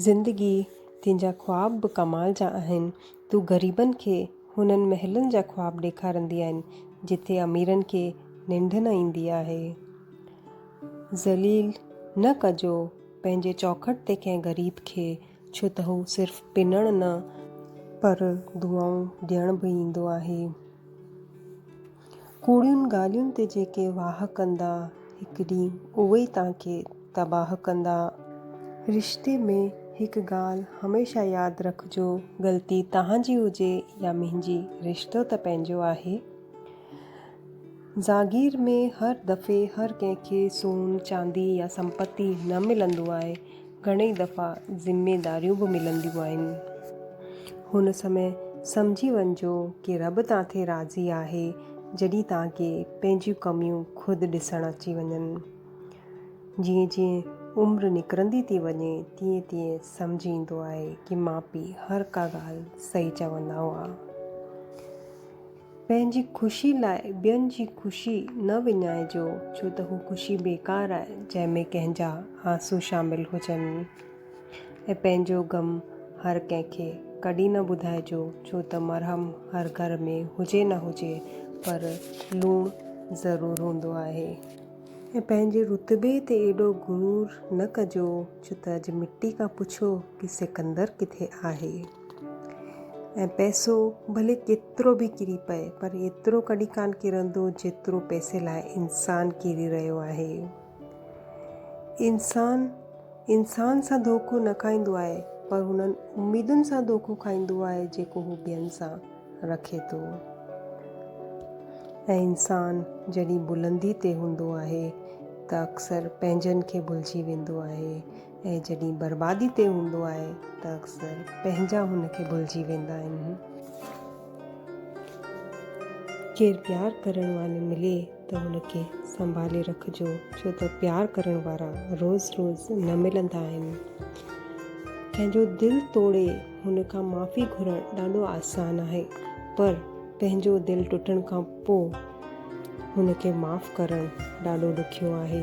زندگيء تنهنجا خواب به ڪمال جا آهن. تون غريبن کي هنن محلن جا خواب ڏيکاريندي آهين، جتي اميرن کي ننڊ نه ايندي آهي. ذليل نه ڪجو پنهنجي چوکٽ تي ڪنهن غريب کي، ڇو ته هو صرف پنڻ نه، پر دعائون ڏيڻ به ايندو آهي. ڪوڙين ڳالهين تي جيڪي واهه ڪندا، هڪ ڏينهن اهي توهان کي تباهه ڪندا. رشتي ۾ هڪ ڳالهه هميشه ياد رکجو، غلطي توهان جي هجي يا منهنجي، رشتو ته پنهنجو آهي. زاگير ۾ هر دفعي هر ڪنهن کي سون، چاندي يا سمپتي نه ملندو آهي. گهڻي دفعا ذميداريون به ملنديون آهن. هن سمي سمجهي وڃجو ڪي رب تان تي راضي آهي جڏهين تان کي پنهنجيون ڪميون خود ڏسڻ اچي وڃن. جيئن جيئن عمر نڪرندي ٿي وڃي تيئن تيئن سمجهه ايندو آهي ڪي ماء پي هر ڪا ڳالهه صحيح چوندا هئا. پنهنجي خوشي لاء ٻين جي خوشي نه وڃائجو، ڇو ته هو خوشي بيڪار آهي، جنهن ۾ ڪنهن جا آنسو شامل هجن. ۽ پنهنجو غم هر ڪنهن کي ڪڏهن نه ٻڌائجو، ڇو ته مرهم هر گهر ۾ هجي نه هجي، پر لوڻ ضرور هوندو آهي. ۽ پنهنجي رتبي تي ايڏو غرور نه ڪجو، ڇو ته اڄ مٽي کان پڇو ڪي سڪندر ڪٿي آهي. ۽ پئسو ڀلي ڪيترو به ڪري پئي پر ايترو ڪڏهن ڪانه ڪرندو جيترو پئسي لاء انسان ڪري رهيو آهي. انسان انسان سان ڌوڪو نه کائيندو آهي پر انهن اميدن سان ڌوڪو کائيندو آهي جيڪو هو ٻين سان رکي ٿو. ۽ انسان جڏهن بلندي تي هوندو آهي ته اڪثر پنهنجن کي ڀلجي ويندو آهي. ۽ جڏهن بربادي تي هوندو آهي ته اڪثر پنهنجا هن کي ڀلجي ويندا آهن. ڪير پيار ڪرڻ واري ملي ته هن کي سنڀالي رکجو ڇو ته پيار ڪرڻ وارا روز روز نه ملندا آهن. ڪنهن جو دل ٽوڙي هن کان معافي گهرڻ ڏاڍو آسان آهي پر پنهنجو دل ٽٽڻ کان پوء هن کي معاف ڪرڻ ڏاڍو ڏکيو آهي.